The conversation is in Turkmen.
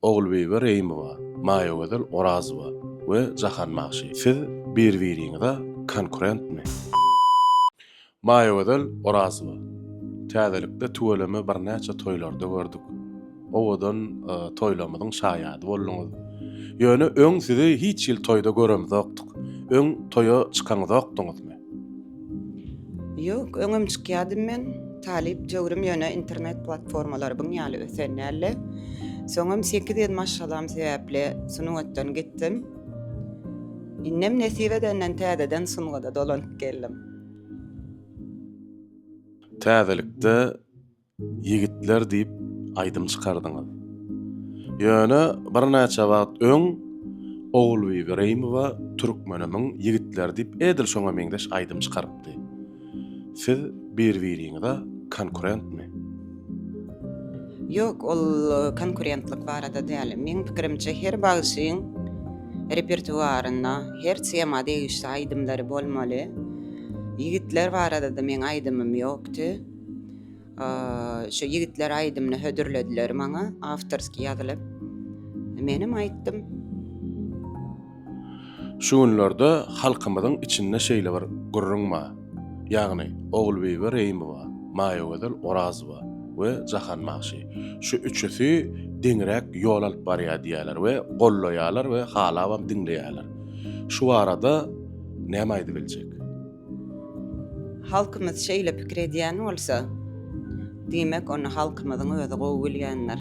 Ogulbibi Reýimowa, Maýagözel Orazowa we Jahan Magşy. Siz bir-biriňize konkurentmi? Maýagözel Orazowa, Täzelikde tüweleme birnäçe toýlarda gördük. Owadan toýlarymyzyň şaýady bolduňyz. Ýöne öň sizi hiç hili toýda göremzokdyk. Öň toýa çykaňzokdyňyzmy? Ýok, öňem çykýardym men. Talyp döwrüm ýöne internet platformalary buň ýaly ösen däldi. Soňam sekiz ýedi maşgalam sebäpli sungatdan gitdim. Indem nesip edenden täzeden sungada dolanyp geldim. Täzelikde Ýigitler diýip aýdym çykardyňyz. Ýöne birnäçe wagt öň Ogulbibi Reýmowa Türkmenimiň ýigitleri diýip edil şoňa meňzeş aýdym çykarypdy. Siz bir-biriňize konkurentmi? Ýok, ol konkurentlik barada däl. Meň pikirimçe her bagşyň repertuarynda her tema degişli aýdymlary bolmaly. Ýigitler barada-da meň aýdymym ýokdy. Şu ýigitler aýdymyny hödürlediler maňa, awtorskiý ýazylyp. Menem aýtdym. Şu günlerde halkymyzyň içinde şeýle bir gürrüň bar. Ýagny, Ogulbibi Reýimowa, Maýagözel Orazowa we Jahan bagşy. Şu üçüsi deňräk ýol alyp barýar diýýärler we gollaýarlar we halabam diňleýärler. Şu barada näme aýdybiljek? Halkymyz şeýle pikir edýän bolsa, diýmek ony halkymyzyň özi gowy bilýändir.